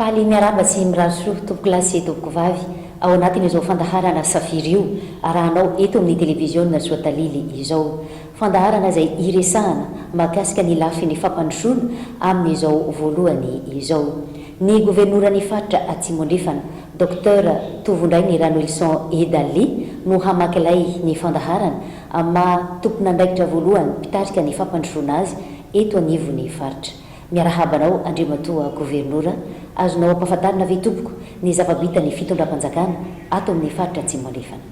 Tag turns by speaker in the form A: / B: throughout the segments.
A: Faly miarahaba sy mirary soa tompoko lahy sy tompoko vavy ao anatin'izao fandaharana Safiry io arahanao eto amin'ny televiziona Soatalily izao. Fandaharana izay hiresahana mahakasika ny lafiny fampandrosoana amin'izao voalohany izao. Ny governoran'ny faritra Atsimo Andrefana, Docteur Tovondrainy Ranoelison Edalli no hamaky lay ny fandaharana amin'ny maha tompon'andraikitra voalohany mpitarika ny fampandrosoana azy eto anivon'ny faritra. Miarahaba anao Andriamatoa Governora, azonao ampahafantarina ve tompoko ny zava-bitan'ny fitondram-panjakana ato amin'ny faritra Atsimo Andrefana?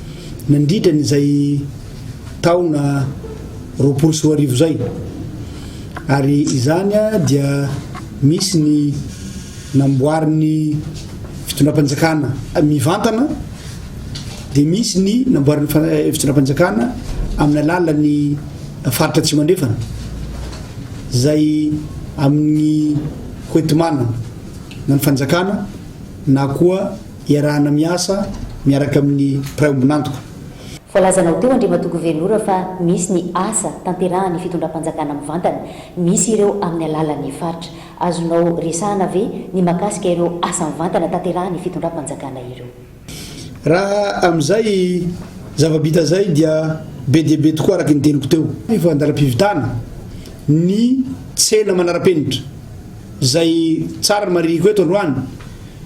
B: nandritra an'izay taona roapolo sy roa arivo izay, ary izany dia misy ny namboarin'ny fitondram-panjakana mivantana, dia misy ny namboarin'ny fitondram-panjakana amin'ny alalan'ny faritra Atsimo Andrefana, izay amin'ny hoenti-manana na ny fanjakana na koa. Iarahana miasa miaraka amin'ny mpiray ombon'antoka. Voalazanao
A: teo Andriamatoa Governora fa misy ny asa tanterahan'ny fitondram-panjakana mivantana misy ireo amin'ny alalan'ny faritra. Azonao resahana ve ny makasika ireo asa mivantana tanterahan'ny fitondram-panjakana ireo? Raha
B: amin'izay zava-bita izay dia be dia be tokoa araka ny teniko teo. Efa an-dalam-pividana ny tsena manara-penitra. Izay tsara ny marihiko eto androany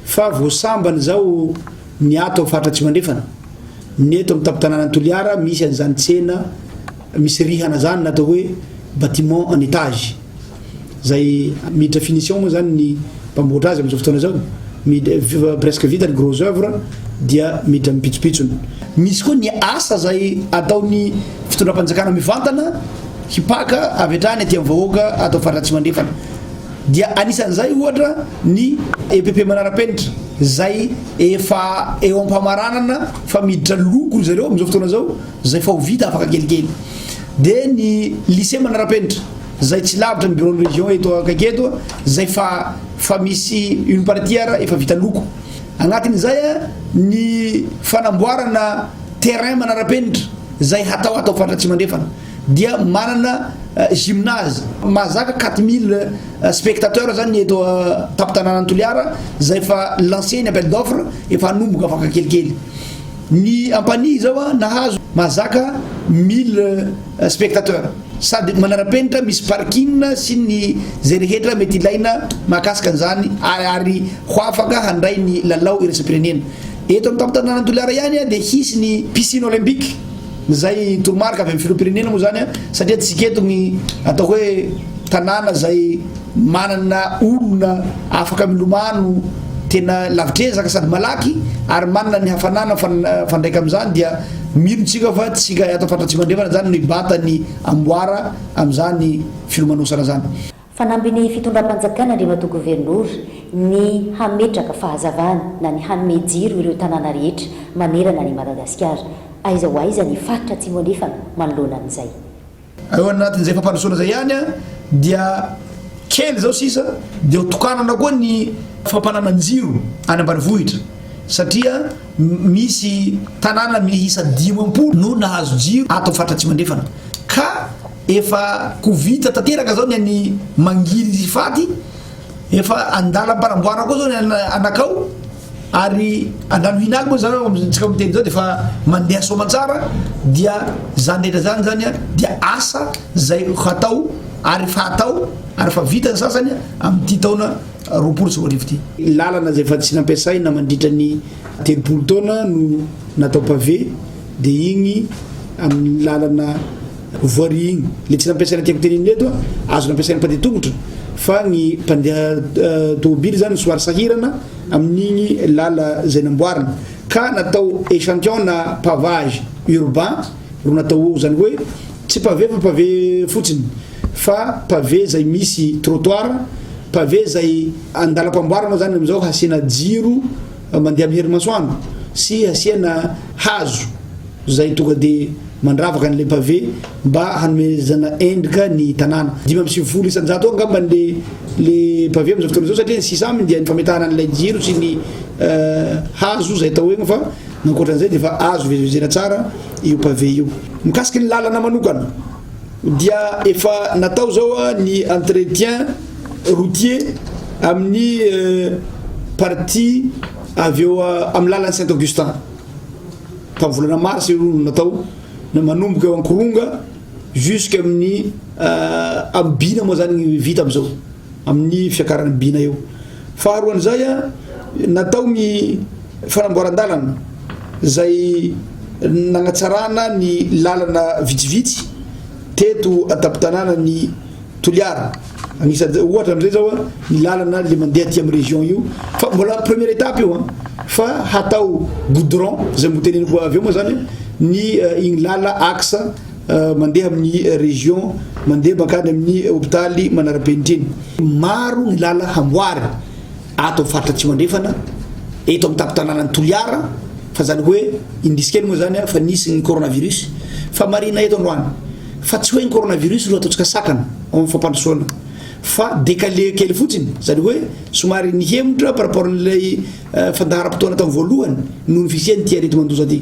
B: fa vao sambany izao ny ato amin'ny faritra Atsimo Andrefana. Ny eto amin'ny tampon-tanànan'i Toliara misy an'izany tsena misy rihana izany na atao hoe bâtiment en étage. Izay miditra finition moa izany ny mpamboatra azy amin'izao fotoana izao. Miditra presque vita ny gros œuvre dia miditra amin'ny pitsopitsony. Misy koa ny asa izay ataon'ny fitondram-panjakana mivantana. hipaka avy hatrany aty amin'ny vahoaka ato amin'ny faritra Atsimo Andrefana dia anisan'izay ohatra ny EPP manara-penitra izay efa eo am-pamaranana fa miditra loko ry zareo amin'izao fotoana izao izay fa ho vita afaka kelikely dia ny lycée manara-penitra izay tsy lavitra ny bureau-n'ny région eto akaiky eto izay fa fa misy une partie ara efa vita loko agnatin'izay a ny fanamboarana terrain manara-penitra izay hatao ato amin'ny faritra Atsimo Andrefana dia manana gymnase mahazaka quatre mille spectateurs zany ny eto tampon-tanànan'i Toliara izay efa lancé ny appel d'offre efa hanomboka afaka kelikely ny ampanihy izao a nahazo mahazaka mille spectateurs sady manara-penitra misy parking sy ny izay rehetra mety ilaina mahakasika an'izany ary ary ho afaka handray ny lalao iraisam-pirenena eto amin'ny tampon-tanànan'i Toliara ihany dia hisy ny piscine olympique Izay toromarika avy amin'ny filoham-pirenena moa izany satria antsika eto ny atao hoe tanàna izay manana olona afaka milomano tena lavitrezaka sady malaky ary manana ny hafanana mifandraika amin'izany dia mino tsika fa tsika ato Ampandrantsimandrefana izany no hibata ny amboara amin'izany filomanosana izany. Fanambin'ny
A: fitondram-panjakana Andriamatoa Governora ny hametraka fahazavana na ny hanome jiro ireo tanàna rehetra manerana an'i Madagasikara. Aiza ho aiza ny faritra Atsimo Andrefana manoloana an'izay? Ao
B: anatin'izay fampandrosoana izay ihany dia kely izao sisa dia ho tokanana koa ny fampanana jiro any ambanivohitra satria misy tanàna miisa dimampolo no nahazo jiro ato amin'ny faritra Atsimo Andrefana ka Efa ko vita tanteraka zao ny an'i Mangily Fady, efa andalam-panamboarana koa zao ny an'i Anakao ary Andranohinaly moa zany amintsika miteny zao dia efa mandeha soamantsara dia zany rehetra zany zany a dia asa zay hatao ary efa atao ary efa vita ny sasany amin'ity taona roapolo sy roa arivo ity. Lalana zay efa tsy nampiasaina mandritra ny telopolo taona no natao pavé dia igny amin'ny lalana Voirie igny. Le tsy nampiasaina tiako tenenina eto a, azo nampiasain'ny mpandeha tongotra fa ny mpandeha tômôbily zany somary sahirana amin'igny lala zay namboarina ka natao echantillon na pavage urbain ro natao eo, zany hoe tsy pavé fa pavé fotsiny fa pavé zay misy trottoir, pavé zay andalam-pamboarana zany amizao hasiana jiro. mandeha amin'ny herimasoandro sy asiana hazo izay tonga dia mandravaka an'ilay pavé mba hanomezana endrika ny tanàna. Dimy amby sivifolo isan-jato eo angamba le le pavé amin'izao fotoana izao satria ny sisa aminy dia ny fametahana an'ilay jiro sy ny euh, hazo izay atao egny fa nankoatra an'izay dia efa azo vezivezena tsara io pavé io. Mikasiky ny lalana manokana. dia efa natao izao ny entretien routier amin'ny partie avy eo amin'ny lalan'i Saint Augustin tamin'ny volana mars io no natao na manomboka eo ankoronga jusqu'à amin'ny euh, amin'ny bina moa zany vita amizao amin'ny fiakaran'ny bina eo. Faharoan'izay, natao ny fanamboaran-dalana izay nanatsarana ny lalana vitsivitsy teto an-tampon-tanànan'i Toliara. Anisan'izay, ohatra amin'izay izao ny lalana le mandeha aty amin'ny région io, fa mbola première étape io an, fa hatao goudron, izay noteneniko avy eo moa izany ny iny lala axe. mandeha amin'ny région, mandeha mankany amin'ny hôpitaly manara-penitra iny. Maro ny làlana hamboary ato amin'ny faritra Atsimo Andrefana, eto amin'ny tampon-tanànan'i Toliara, fa izany hoe indrisy kely moa izany fa nisy ny coronavirus, fa marihina eto androany fa tsy hoe ny coronavirus no ataontsika sakana ao amin'ny fampandrosoana fa décalé kely fotsiny, izany hoe somary nihemotra par rapport an'ilay fandaharam-potoana tamin'ny voalohany noho ny fisian'ity aretin-mandoza ity.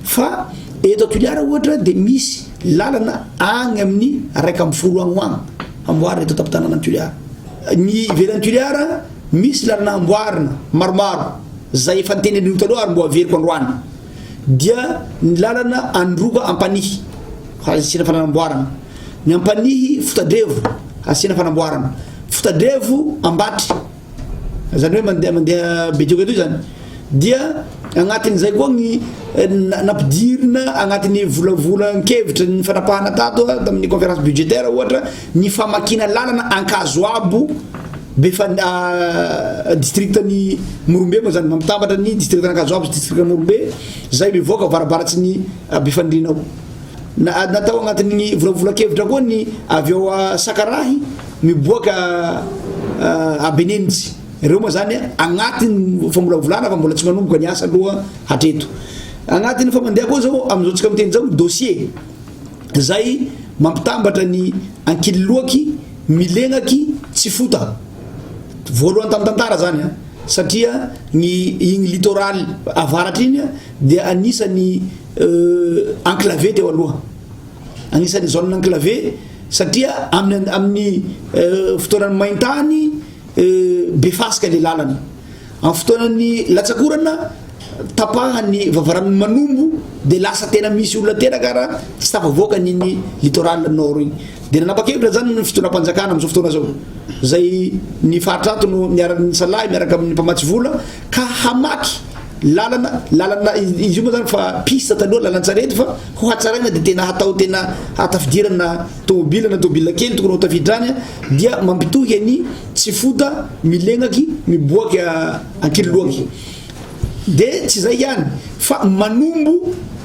B: Fa eto Toliara ohatra dia misy lalana agny amin'ny raika amby folo agny ho agny amboarina eto an-tampon-tanànan'i Toliara. Ny ivelan'i Toliara misy lalana amboarina maromaro, zay efa niteneniko taloha ary mbo averiko androany, dia ny lalana Androba Ampanihy asiana fanamboarana, ny Ampanihy Fotadrevo asiana fanamboarana, Fotadrevo Ambatry Zany hoe mandeha mandeha be dioka toy zany dia agnatin'izay koa ny eh, nampidirina agnatin'ny volavolan-kevitra ny fanapahana tato ah, tamin'ny conférence budgétaire ohatra ny famakina lalana ankazoabo be fa ah, district ny morombe moa zany mamitambatra ny district ankazoabo sy district morombe zay mivoaka varabaratsy ny ah, be fandrinao natao agnatin'ny volavolan-kevitra koa ny avy eo sakarahy miboaka ambenenitsy reo moa zany agnatiny famolavolana fa mbola tsy manomboka ny asa aloha hatreto agnatiny fa mandeha koa zao amizao tsika miteny zao dossier zay mampitambatra ny ankililoaky milegnaky tsy fota voalohany tam tantara zany a satria ny igny litoral avaratra igny dia anisany enclave teo aloha Anisan'ny zone enclavée satria amin'ny amin'ny fotoanan'ny maintany be fasika ilay lalana. Amin'ny fotoanan'ny latsakorana tapahan'ny vavaranon'ny manombo dia lasa tena misy olona tena kara tsy tafavoaka an'iny littoral nord iny. Dia nanapa-kevitra zany ny fitondram-panjakana amin'izao fotoana izao izay ny faritra ato no niara-nisalahy miaraka amin'ny mpamatsy vola ka hamaky lalana lalana izy io moa zany fa piste taloha lalan-tsarety fa ho hatsaraina dia tena hatao tena hatafidirana tômôbila na tômôbila kely tokony ho tafidrany dia mampitohy ny tsy fota milegnaky miboaky ankililoaky dia tsy izay ihany fa manombo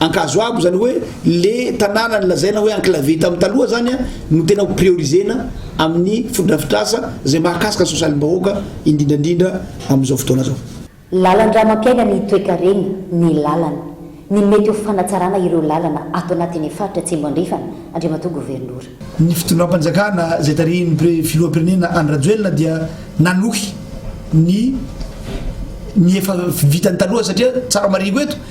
B: Ankazoabo zany hoe le tanàna nolazaina hoe enclavé tamin'ny taloha zany no tena ho priorisena amin'ny fotodrafitrasa izay mahakasika ny sosialim-bahoaka indrindrandrindra amin'izao fotoana zao. Lalan-drà
A: mampiaina ny toekareny ny lalana. Ny mety ho fanatsarana ireo lalana ato anatin'ny faritra Atsimo Andrefana, Andriamatoa Governora. Ny fitondram-panjakana
B: izay tarihin'ny Pre Filoham-pirenena Andry Rajoelina dia nanohy ny ny efa vitany taloha satria tsara mariho eto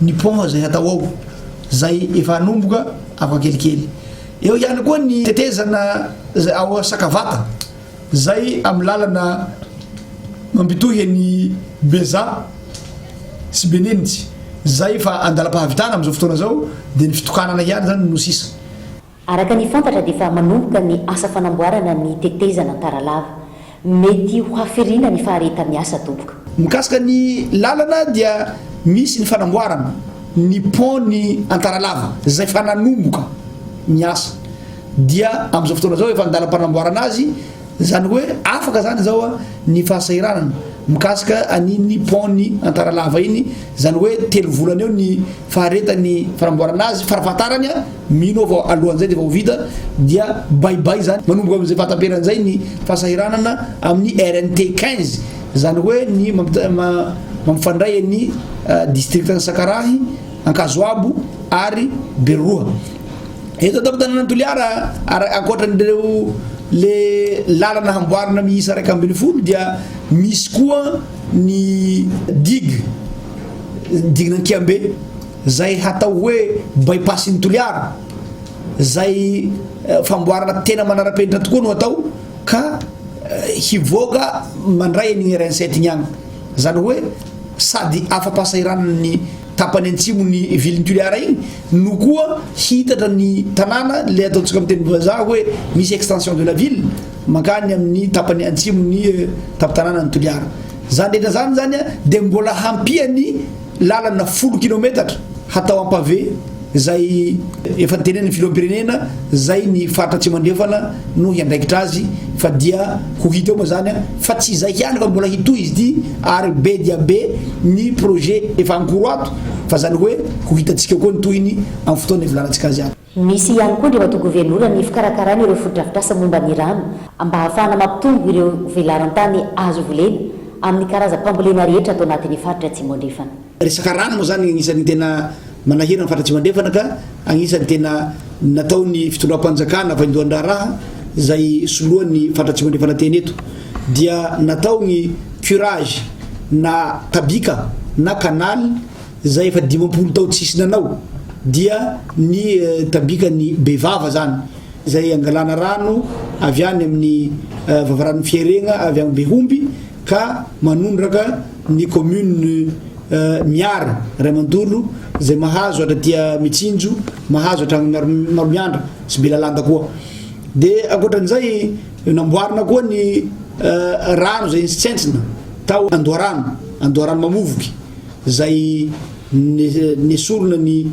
B: ny pont izay hatao ao, izay efa hanomboka afaka kelikely. Eo ihany koa ny tetezana izay ao Sakavata, izay amin'ny lalana mampitohy an'i Beza sy Benenitsy, izay efa andalam-pahavitana amin'izao fotoana izao, dia ny fitokanana ihany izany no sisa. Araka ny
A: fantatra dia efa manomboka ny asa fanamboarana ny tetezana Antaralava. Mety ho haferina ny fahareta-miasa doboka. Mikasika ny
B: lalana dia misy ny fanamboarana ny pont ny Antaralava izay efa nanomboka ny asa dia amin'izao fotoana izao efa an-dalam-panamboarana azy izany hoe afaka izany izao ny fahasahiranana mikasika an'iny pont ny Antaralava iny izany hoe telo volana eo ny faharetan'ny fanamboarana azy farafahatarany Mino aho fa alohan'izay dia efa ho vita dia bay bay izany. Manomboka amin'izay fahataperany izay ny fahasahiranana amin'ny RNT quinze, izany hoe ny mampifandray an'ny distrikan'i Sakarahy, Ankazoabo ary Beroroha. Eto an-tampon-tanànan'i Toliara, ankoatran'ireo le lalana hamboarina miisa iraika ambin'ny folo dia misy koa ny digue, diguen'Ankiambe. Zay hatao hoe bypass ny Toliara, zay famboarana tena manarapenitra tokoa no atao ka hivoaka mandray an'igny RN sept igny agny. Zany hoe sady afa-pahasahiranana ny tapany antsimon'ny vilin'i Toliara igny no koa hiitatra ny tanàna, le ataontsika amin'ny teny vazaha hoe misy extension de la ville mankany amin'ny tapany antsimon'ny tampon-tanànan'i Toliara. Zany rehetra zany zany dia mbola hampian'ny. lalana folo kilometatra hatao en pavé zay efa niteneniny filoham-pirenena zay ny faritra atsimo andrefana no hiandraikitra azy fa dia ho hita eo moa zany a fa tsy izay ihany fa mbola hitohy izy ity ary be dia be ny projet efa ankoro ato fa zany hoe ho hitantsika koa ny tohiny amin'ny fotoana hivolanantsika azy ato Misy ihany koa ny eo
A: anto-governorany ny fikarakarana ireo fotodrafitrasa momba ny rano mba hahafahana mampitombo ireo velaran-tany azo volena amin'ny karazam-pambolena rehetra ato anatin'ny faritra Atsimo Andrefana. Resaka rano moa izany
B: anisan'ny tena manahirana ny faritra Atsimo Andrefana ka anisan'ny tena nataon'ny fitondram-panjakana vaindohan-draharaha izay soloan'ny faritra Atsimo Andrefana teny eto dia natao ny curage na tabika na canal Zay efa dimampolo tao tsisy nanao dia ny tambika ny be vava zany zay angalana rano avy any amin'ny vavaranon'ny fiaregna avy any Behomby ka manondraka ny commune Miara ray mantolo zay mahazo hatraty Mitsinjo mahazo hatrany Maromihanda sy Belalanda koa de ankoatran'izay namboarina koa ny rano zay ntsentsentsina tao Andoharano Andoharano Mamovoky zay nesorina ny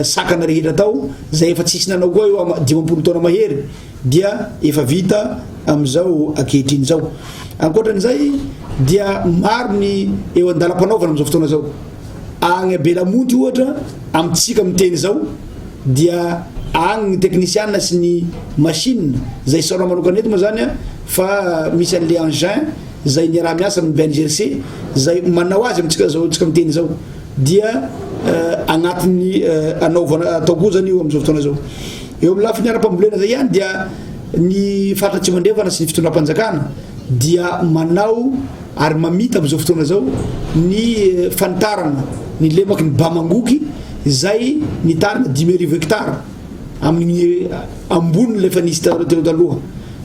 B: sakana rehetra tao zay efa tsisy nanao koa eo dimampolo taona mahery dia efa vita amizao akehitriny zao ankoatran'izay dia maro ny eo andala-panaovana amizao fotoana zao agny abelamonty ohatra amitsika miteny zao dia agny ny teknisiana sy ny machine zay saona manokanetyma zany a fa misy an'le engin izay niaraha-miasa amin'ny BNGRC izay manao azy amintsika izao antsika miteny izao dia eh, anatin'ny eh, anaovana atao koa zany io amin'izao fotoana izao eo amin'ny lafiny ara-pambolena izay ihany dia ny faritra tsy mandrefana sy ny fitondram-panjakana dia manao ary mamita amin'izao fotoana izao ny eh, fanitarana ny lemaky ny bamangoky izay nitarina dimy arivo hectara amin'ny ambony ilay efa nisy taloha teo taloha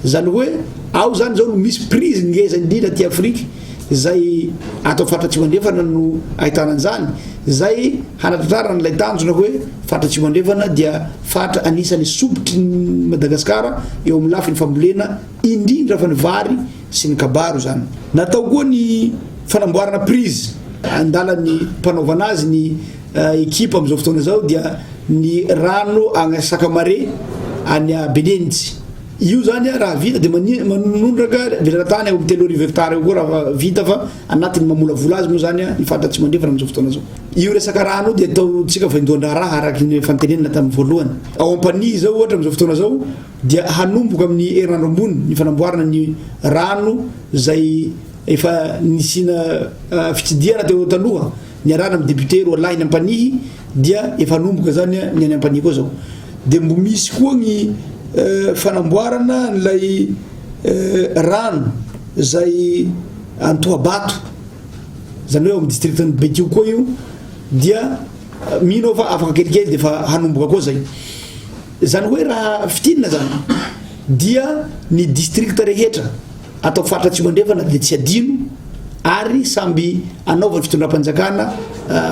B: zany hoe ao zany zao no misy prise ngeza indrindra aty Afrique zay atao faritra atsimo andrefana no ahitana an'izany zay hanatratrarana ilay tanjona hoe faritra atsimo andrefana dia faritra anisany sobotry ny Madagascar eo amin'ny lafiny fambolena indrindra fa ny vary sy ny kabaro zany natao koa ny fanamboarana prise andala ny mpanaovana azy ny Ekipa amin'izao fotoana izao dia ny rano agny Sakamare any Benintsy. Io zany raha vita dia manondraka lerana-tany eo amin'ny telo arivo hektara eo koa raha vita fa anatin'ny mamolavola azy moa zany ny faritra Atsimo Andrefana amin'izao fotoana izao. Io resaka rano io dia ataontsika vaindohan-draharaha araka ny efa notenenina tamin'ny voalohany. Ao Ampanihy izao ohatra amin'izao fotoana izao dia hanomboka amin'ny herinandro ambony ny fanamboarana ny rano izay efa nisiana fitsidihana teo taloha. niarahana am député roa lahiny ampanihy dia efa hanomboka zany ny any ampanihy koa zao de mbo misy koa ny fanamboarana an'ilay rano zay antohabato zany hoe ao am district an'i betio koa io dia mino aho fa afaka kelikely de efa hanomboka koa zay zany hoe raha fitinina zany dia ny district rehetra Hatao faritra Atsimo Andrefana dia tsy adino ary samby hanaovan'ny fitondram-panjakana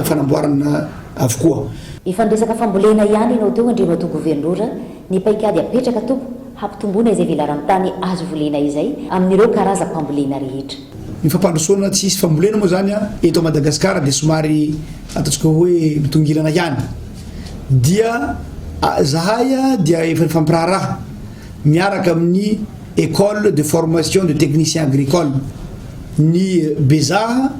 B: fanamboarana avokoa. Efa niresaka
A: fambolena ihany ianao teo Andriamatoa Governora, ny paikady apetraka tokoa hampitomboana izay velaran-tany azo volena izay amin'ireo karazam-pambolena rehetra. Ny fampandrosoana
B: tsy hisy fambolena moa izany eto Madagasikara dia somary ataontsika hoe mitongilana ihany dia zahay dia efa nifampiraharaha. miaraka amin'ny Ecole de formation de technicien agricole ny Bezaha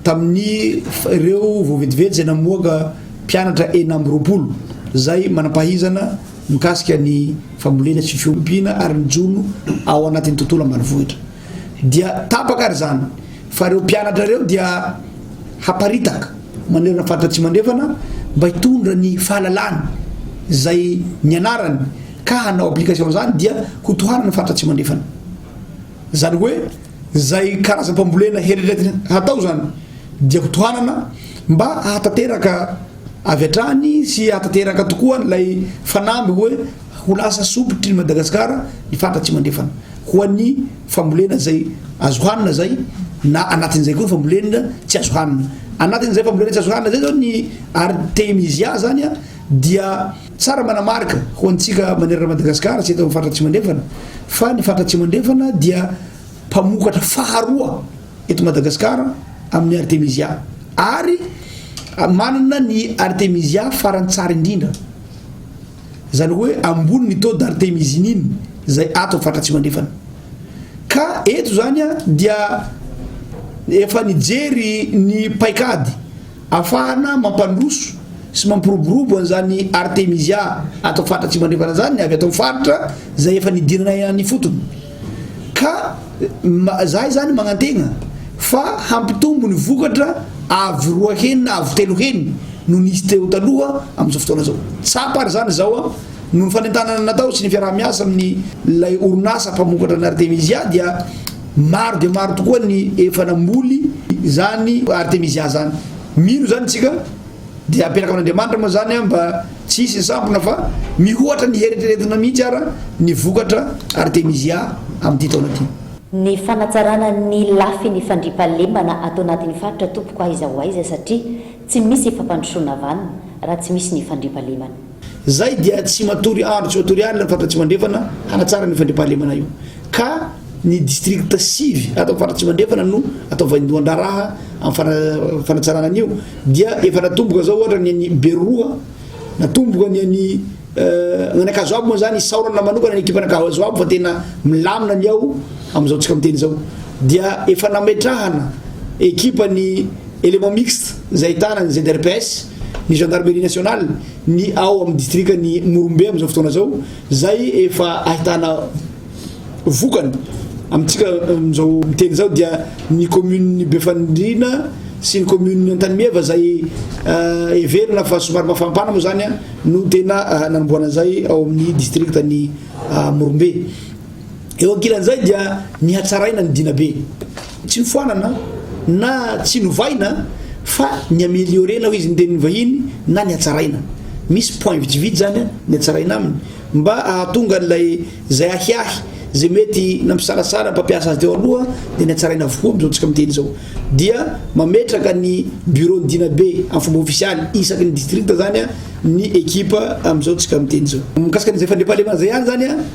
B: tamin'ny ireo vao vetivety izay namoaka mpianatra enina amby roapolo izay manam-pahizana mikasika ny fambolena sy fiompiana ary ny jono ao anatin'ny tontolo ambanivohitra dia tapaka ary izany Fa ireo mpianatra ireo dia haparitaka manerana ny faritra Atsimo Andrefana mba hitondra ny fahalalany izay nianarany ka hanao application izany dia ho tohanana ny faritra Atsimo Andrefana. Izany hoe izay karazam-pambolena herirety hatao izany dia ho tohanana mba hahatanteraka avy hatrany sy hahatanteraka tokoa ilay fanamby hoe Ho lasa sompitry ny Madagasikara ny faritra Atsimandrefana ho an'ny fambolena izay azo hanina izay na anatin'izay koa ny fambolena tsy azo hanina. Anatin'izay fambolena tsy azo hanina izay izao ny Artemisia izany dia tsara manamarika ho antsika manerana Madagasikara sy eto amin'ny faritra Atsimandrefana fa ny faritra Atsimandrefana dia mpamokatra faharoa eto Madagasikara amin'ny Artemisia ary manana ny Artemisia farantsary indrindra. Izany hoe ambony ny taux d'artemisinine izay ato amin'ny faritra Atsimo Andrefana. Ka eto izany a dia efa nijery ny paikady afahana mampandroso sy mampiroborobo an'izany artemisia ato amin'ny faritra Atsimo Andrefana izany ny avy ato amin'ny faritra izay efa nidiranay any ifotony. Ka za izany magnantegna fa hampitombo ny vokatra avo roa heny na avo telo heny noho ny izy teo taloha amin'izao fotoana izao. Tsapa ary izany izao an, noho ny fanentanana natao sy ny fiaraha-miasa amin'ny ilay orinasa mpamokatra ny artemisia dia maro dia maro tokoa ny efa namboly izany artemisia izany. Mino izany isika. Dia apetraka amin'Andriamanitra moa izany mba tsy hisy ny sampona fa mihoatra ny heritreretina mihitsy ara ny vokatra Artemisia amin'ity taona ity. Ny fanatsarana
A: ny lafiny fandriampahalemana ato anatin'ny faritra tompoko aiza ho aiza satria tsy misy fampandrosoana vanona raha tsy misy ny fandriampahalemana. Izay dia
B: tsy matory andro tsy matory alina ny Faritra Atsimo Andrefana hanatsara an'io fandriampahalemana io ka ny district sivy ato amin'ny Faritra Atsimo Andrefana no atao vaindohan-draharaha amin'ny fanatsarana an'io dia efa natomboka zao ohatra ny an'i Beroa natomboka ny an'i Anakazo Abo moa zany isaorana manokana ny ekipan'Anakazo Abo fa tena milamina ny ao amin'izao tsika miteny izao dia efa nametrahana ekipan'ny élément mixte izay ahitana ny ZRPS ny Gendarmerie Nationale ny ao amin'ny distrikan'i Morombe amin'izao fotoana izao izay efa ahitana vokany amintsika amin'izao miteny izao dia ny communes Befanindriana sy ny communes Antanimeva izay euh, heverina fa somary mafampana moa izany no tena euh, nanomboana izay ao amin'ny distriktan'i euh, Morombe Eo ankilan'izay dia nihatsaraina ny Dinabe. Tsy nofoanana na tsy novaina fa ni-ameliorer-na hoy izy ny tenin'ny vahiny na nihatsaraina. Misy point vitsivitsy izany nihatsaraina aminy mba hahatonga an'ilay izay ahiahy izay mety nampisalasala ny mpampiasa azy teo aloha dia nihatsaraina avokoa amin'izao tsika miteny izao. Dia mametraka ny bureau-n'ny Dinabe amin'ny fomba ofisialy isaky ny district izany ny ekipa amin'izao tsika miteny izao. Mikasika an'izay fandriampahalemana izay ihany izany.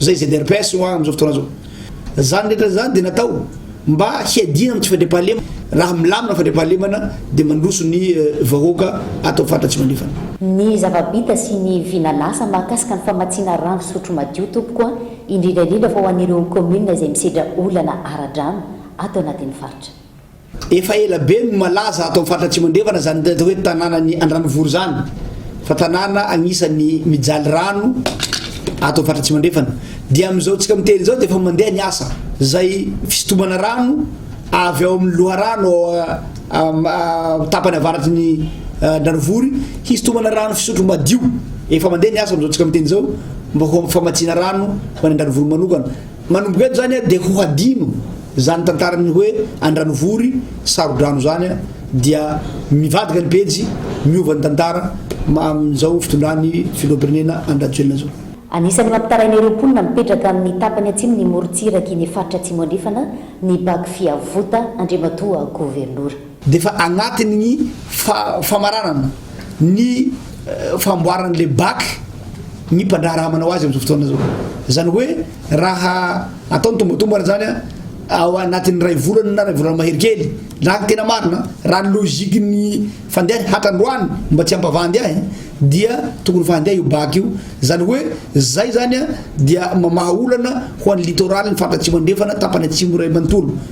B: Zay ZRPS ho'a amin'izao fotoana zao. Zany rehetra zany dia natao mba hiadiana amin'ny tsy fandriampahalemana. Raha milamina ny fandriampahalemana dia mandroso ny vahoaka ato amin'ny faritra Atsimonefana. Ny zava-bita
A: sy ny vina lasa mahakasika ny famatsiana rano fisotro madio tompoko a! indrindra indrindra fa ho an'ireo commune izay misedra olana ara-drano ato anatin'ny faritra. Efa ela
B: be no malaza ato amin'ny faritra Atsimo Andrefana izany atao hoe tanànan'i Andranovory izany fa tanàna agnisan'ny mijaly rano ato amin'ny faritra Atsimo Andrefana. Dia amin'izao tsika miteny izao dia efa mandeha ny asa. Izay fisintomana rano avy ao amin'ny loharano ao tapany avaratry ny Andranovory hisintomana rano fisotro madio. Efa mandeha ny asa amin'izao tsika miteny izao mba ho famatsiana rano ho any Andranovory manokana. Manomboka eto zany dia ho hadino zany tantaran'ny hoe Andranovory Sarodrano zany dia mivadika ny pejy, miova ny tantara amin'izao fitondran'ny filoham-pirenena Andry Rajoelina zao. Anisan'ny mampitaraina
A: ireo mponina mipetraka amin'ny tapany atsimon'ny morontsirak'i ny faritra Atsimo Andrefana ny bac Fiavota Andriamatoa Governora. dia efa anatin'
B: ny famaranana ny famboaran' ilay bac ny mpandraharaha manao azy amin' izao fotoana izao. Izany hoe raha atao ny tombatombana izany an ao anatin' ny iray volana na iray volana mahery kely raha ny tena marina raha ny logique ny fandehany hatr-androany mba tsy hampavandy ahy dia tokony efa handeha io bac io izany hoe izay izany an dia mamaha olana ho an' ny littoral ny faritra atsimo andrefana tapany atsimo iray manontolo.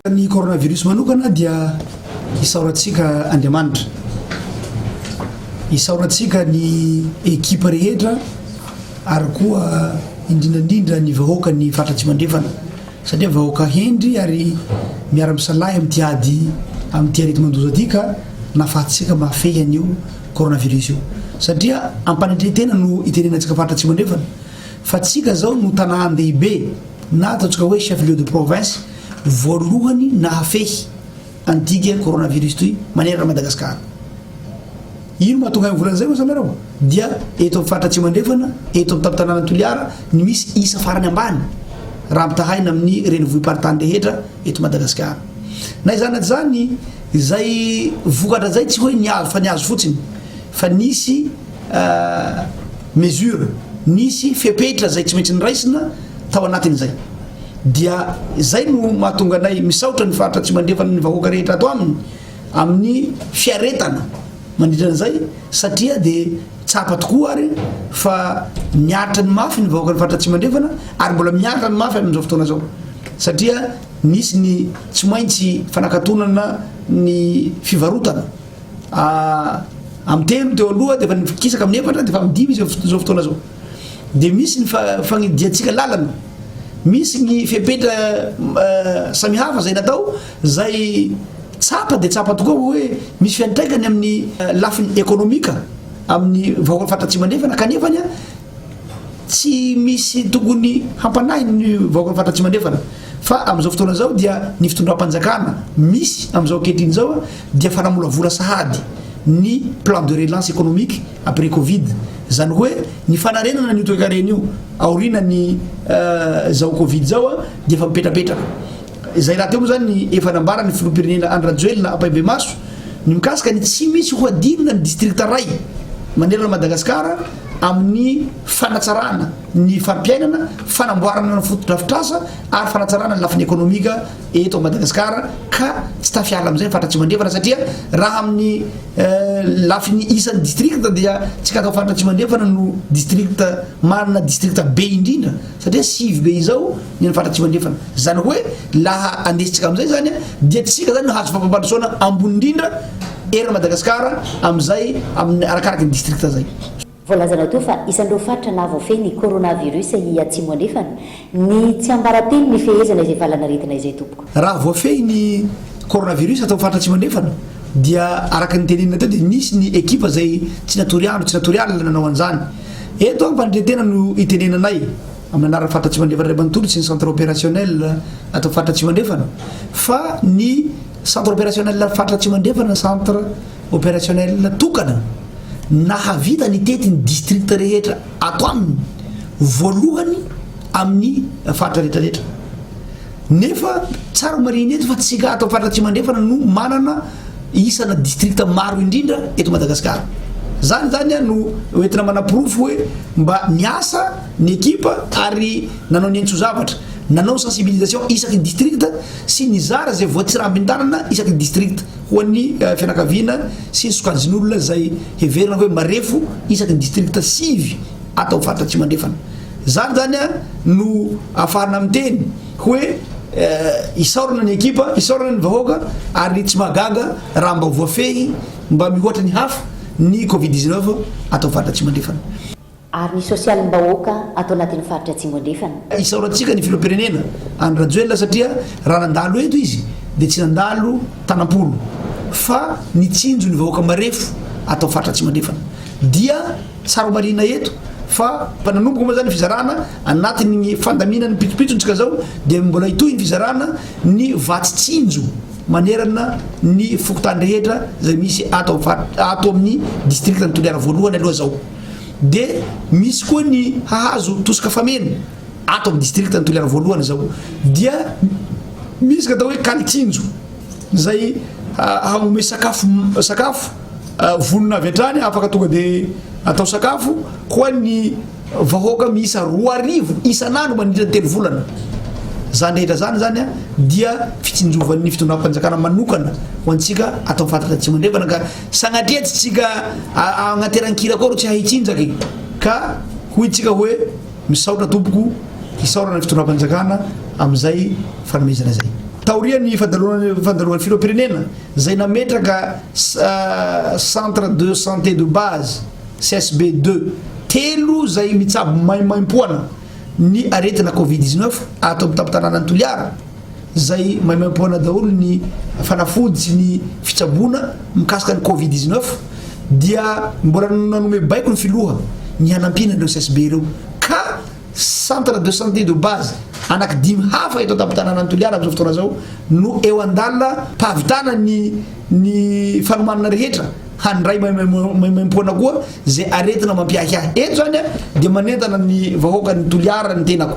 A: Ny coronavirus
B: manokana dia isaorantsika Andriamanitra. Isaorantsika ny ekipa rehetra ary koa indrindra indrindra ny vahoaka ny faritra Atsimo Andrefana satria vahoaka hendry ary miara-misalahy amin'ity ady amin'ity areti-mandoza ity ka nahafahantsika mahafehy an'io coronavirus io satria am-panetren-tena no itenenantsika faritra Atsimo Andrefana fa tsika zao no tanàn-dehibe na ataontsika hoe chef lieu de province voalohany nahafehy an digue coronavirus toy manerana Madagascar. Ino mahatonga ahy mivola an'izay hoy ianareo? Dia eto amin'ny faritra Atsimo Andrefana, eto amin'ny tampon-tanànan'i Toliara no misy isa farany ambany raha ampitahaina amin'ny renivohi-paritany rehetra eto Madagasikara. Na izany na izany, izay vokatra izay tsy hoe nihazo fa nihazo fotsiny fa nisy mesures, nisy fepetra izay tsy maintsy noraisina tao anatin'izay. Dia izay no mahatonga anay misaotra ny Faritra Atsimo Andrefana ny vahoaka rehetra ato aminy amin'ny fiaretana mandritra an'izay satria dia tsapa tokoa ary fa miaritra ny mafy ny vahoaka ny Faritra Atsimo Andrefana ary mbola miaritra ny mafy amin'izao fotoana izao satria nisy ny tsy maintsy fanakatonana ny fivarotana ah, amin'ny telo teo aloha dia efa nikisaka amin'ny efatra dia efa amin'ny dimy izy izao fotoana izao. dia misy ny fagnidiantsika lalana, misy ny fepetra samihafa izay natao izay tsapa dia tsapa tokoa hoe misy fiantraikany amin'ny lafiny ekonomika amin'ny vahoakan'ny faritra Atsimo Andrefana kanefany a tsy misy tokony hampanahy ny vahoakan'ny faritra Atsimo Andrefana fa amin'izao fotoana izao dia ny fitondram-panjakana misy amin'izao ankehitriny izao a dia fanamolavola sahady ny plan de relance économique après covid Izany hoe ny fanarenana an'io toekarena io aoriana ny zao covid zao dia efa mipetrapetraka. Izay rahateo moa izany ny efa nambaran'ny filoham-pirenena Andry Rajoelina ampahibemaso ny mikasika ny tsy misy hohadinina ny distrikta iray manerana an'i Madagasikara amin'ny fanatsarana ny fari-piainana, fanamboarana ny fotodrafitrasa ary fanatsarana ny lafiny ekonomika eto Madagasikara ka tsy tafiala amin'izay ny faritra Atsimo Andrefana satria raha amin'ny Lafiny isan'ny district dia Tsikatao Faritra Atsimo Andrefana no district manana district be indrindra satria sivy be izao ny an'ny Faritra Atsimo Andrefana. Zany hoe laha andesintsika amin'izay zany dia tsika zany no hahazo fampandrosoana ambony indrindra eran'i Madagasikara amin'izay amin'ny arakaraky ny district zay. Voalazana toa fa
A: isan'ireo faritra nahavoafehy ny coronavirus i Atsimo Andrefana ny tsiambaratelo nifehezana izay valan'aretina izay tompoko. Raha voafehy ny
B: coronavirus tao amin'ny faritra Atsimo Andrefana dia araka ny tenenina teo dia nisy ny ekipa izay tsy natory andro tsy natory alina nanao an'izany. Eto aho mpandre-tena no itenenanay amin'ny anaran'ny faritra Atsimo Andrefana iray manontolo sy ny centre opérationnel ato faritra Atsimo Andrefana fa ny centre opérationnel faritra Atsimo Andrefana centre Opérationnel tokana nahavita nitety ny district rehetra ato aminy voalohany amin'ny faritra rehetra rehetra nefa tsara marihina eto fa tsika ato faritra tsy mandrefana no manana isana district maro indrindra eto Madagasikara zany zany a no hoentina manaporofo hoe mba niasa ny ekipa ary nanao ny entso zavatra nanao sensibilisation isaky ny district sy nizara zay voatsirambin-tanana isaky ny district ho an'ny fianakaviana sy ny sokajin'olona izay heverina hoe marefo isaky ny distrikta sivy ato amin'ny faritra Atsimo Andrefana. Izany izany no ahafahanà miteny hoe isaorana ny ekipa, isaorana ny vahoaka ary tsy mahagaga raha mba voafehy mba mihoatra ny hafa ny Covid dix-neuf ato amin'ny faritra Atsimo Andrefana. ary ny
A: sosialim-bahoaka ato anatin'ny faritra Atsimo Andrefana. Isaorantsika ny Filoham-pirenena
B: Andry Rajoelina satria raha nandalo eto izy dia tsy nandalo tanam-polo fa nitsinjo ny vahoaka marefo ato amin'ny faritra Atsimo Andrefana. Dia tsara homarihina eto fa efa nanomboka moa izany ny fizarana anatin'ny fandaminan'ny pitsopitsontsika izao dia mbola hitohy ny fizarana ny vatsy tsinjo manerana ny fokontany rehetra izay misy ato amin'ny distrikan'i Toliara voalohany aloha izao. Dia misy koa ny hahazo tosika fameno ato amin'ny district ny Toliara voalohany izao dia misy ny atao hoe kalitsinjo izay hanome sakafo sakafo vonona avy hatrany afaka tonga dia atao sakafo ho an'ny vahoaka miisa roa arivo isan'andro mandritra ny telo volana zany rehetra zany zany a dia fitsinjovan'ny fitondram-panjakana manokana ho antsika atao fatratra tsy mandrevana ka Sanatria tsy tsika agnateran-kira koa rô tsy ahay tsinjaka e! ka hoy tsika hoe misaotra tompoko isaorana ny fitondram-panjakana amin'izay fanomezana zay. Taorian'ny fandalovan'ny filoham-pirenena zay nametraka centre de santé de base, CSB deux, telo zay mitsabo maimaimpoana ny aretina covid dix neuf ato amin'ny tampon-tananan'i Toliara, izay maimaimpoana daholo ny fanafody sy ny fitsaboana mikasika ny covid 19 dia mbola nanome baiko ny filoha ny hanampiana ireo CSB ireo ka centre de santé de base anaky dimy hafa eto an-tampon-tanànan'i Toliara amin'izao fotoana izao no eo an-dalana pahavitana ny ny fanomanana rehetra handray maimaimpoana koa izay aretina mampiahiahy eto izany dia manentana ny vahoakan'ny Toliara ny tenako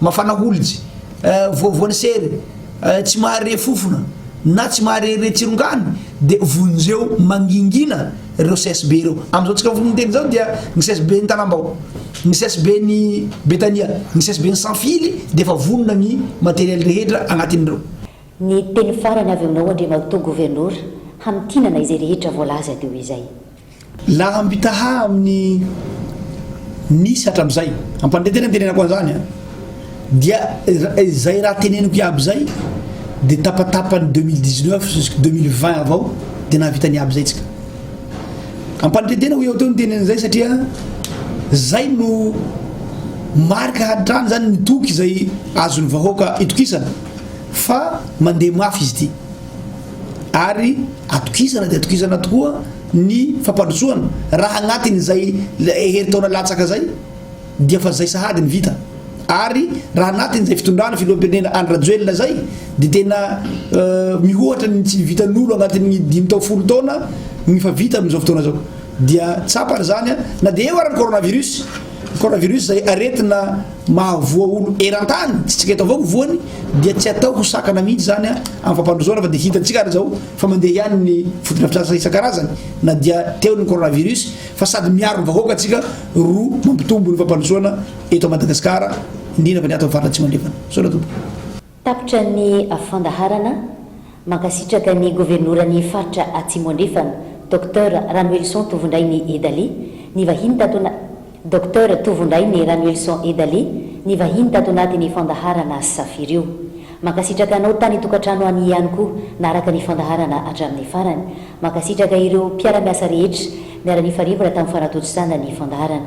B: Mafana holitsy, voavoan'ny sery, tsy mahare fofona na tsy mahare re tsirongany dia vonjeo mangingina ireo CSB ireo. Amin'izao antsika mifono miteny izao dia ny CSB ny Tanambao, ny CSB ny Betania, ny CSB ny Sanfily dia efa vonona ny matériel rehetra anatin'ireo. Ny teny
A: farany avy aminao Andriamatoa Governora hamintinana izay rehetra voalaza teo izay.
B: Laham-bitaha amin'ny nisy hatramin'izay, ampanindray tena ny tenenako an'izany a, dia izay raha teneniko iaby izay dia tapatapan'ny deux mille dix neuf jusqu'à deux mille vingt avao dia nahavita ny iaby izay tsika. Ampanindray tena ho eo teo ny tenen'izay satria izay no marika hatrany izany ny toky izay azon'ny vahoaka itokisana fa mandeha mafy izy ity. ary atokisana dia atokisana tokoa ny fampandrosoana raha anatin'izay herintaona latsaka izay dia fa zay sahady ny vita ary raha anatin'izay fitondrana filoham-pirenena Andry Rajoelina izay dia tena mihoatra ny tsy vitan'olo anatin'ny dimy tao folo taona ny fa vita amin'izao fotoana izao dia tsapany izany na dia eo ary ny coronavirus Coronavirus izay aretina mahavoa olo eran-tany, tsy antsika eto avao no voany, dia tsy atao ho sakana mihitsy izany amin'ny fampandrosoana fa dia hitantsika ary izao fa mandeha ihany ny fotodrafitrasa isan-karazany na dia teo ny coronavirus fa sady miaro ny vahoaka antsika ro mampitombo ny fampandrosoana eto Madagasikara indrindra fa ny ato amin'ny faritra Atsimo Andrefana. Misaotra tompoko. Tapitra ny
A: fandaharana. Mankasitraka ny Governoran'ny Faritra Atsimo Andrefana, Docteur Ranoelison Tovondrainy Edali, ny vahiny tato ana Docteur Tovondrainy Ranoelison Edali, ny vahiny tato anatin'ny fandaharana Safiry io. Mankasitraka anao tany an-tokantrano any ihany koa naharaka ny fandaharana hatramin'ny farany. Mankasitraka ireo mpiara-miasa rehetra niara-nifarivana tamin'ny fanatontosana ny fandaharana.